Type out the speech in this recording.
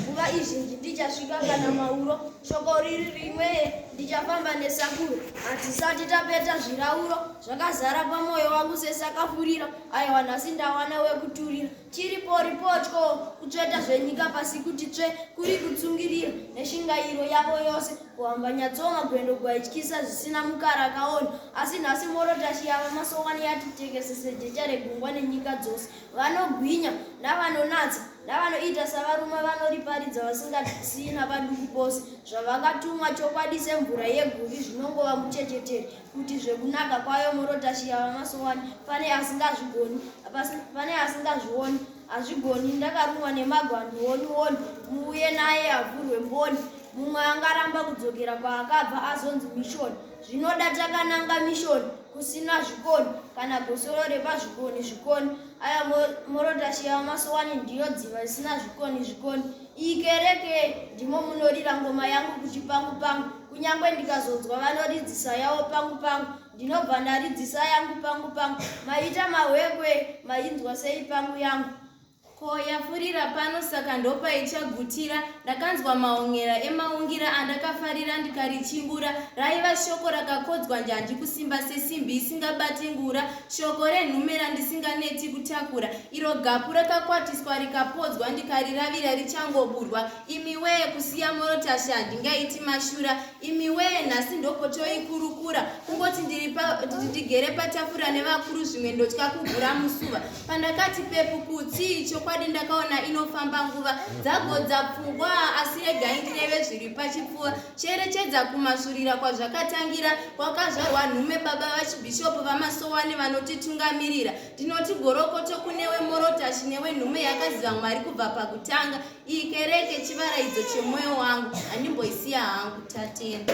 Nguva izhinji ndichasvika kana mauro, shoko riri rimwe ndichafamba nesakuro. Hatisati tapeta zvirauro, zvakazara pamwoyo wangu sesakafurira. Aiwa nhasi ndawana wekuturira, chiri pori potyo, kutsveta zvenyika pasi kuti tsve, kuri kutsungirira neshingairo yavo yose. Kuhamba nyatsoma gwendo gwaityisa zvisina mukara akaona, asi nhasi morotashi yava masowani yati tekesese jecha regungwa nenyika dzose. Vanogwinya, navanonatsa, navanoita savarume vanoriparidza vasingasina paduku pose, zvavakatumwa chokwadi semvura yeguvi zvinongova muchechetere, kuti zvekunaka kwayo morotashi yavamasowani, pane asingazvigoni, pasi- pane asingazvioni, hazvigoni, ndakarumwa nemagwani, woni woni, muuye naye avhurwe mboni, mumwe angaramba kudzokera kwaakabva azonzi mishoni, zvinoda takananga mishoni, kusina zvikoni kana gosoro repazvikoni zvikoni aya morotashiya masowani ndiyo dziva risina zvikoni zvikoni iyi kereke ndimo munorira ngoma yangu kuti pangu pangu kunyange ndikazodzwa vanoridzisa yavo pangu pangu ndinobva ndaridzisa yangu pangu pangu maita mahwekwe mainzwa sei pangu yangu Ko yafurira pano saka ndopaichagutira. Ndakanzwa maonyera emaungira andakafarira ndikarichimbura. Raiva shoko rakakodzwa njanji kusimba sesimbi isingabati ngura. Shoko renhume randisinganeti kutakura. Iro gapu rakakwatiswa rikapodzwa ndikariravira richangoburwa. Imiwee kusiya morotasha handingaiti mashura. imiwee nhasi ndopotoikurukura kungoti ndiri ndigere patafura nevakuru zvimwe ndotya kugura musuva pandakati pepu kutsii chokwadi ndakaona inofamba nguva dzagodza pfungwa asi regai ndireve zviri pachipfuva cherechedza kumasurira kwazvakatangira kwakazvarwa nhume baba vachibhishopu vamasowani vanotitungamirira ndinoti gorokoto kunewe morotashi newe nhume yakaziva mwari kubva pakutanga Iyi kereke chivaraidzo chemwoyo wangu, handimboisiya hangu. Tatenda.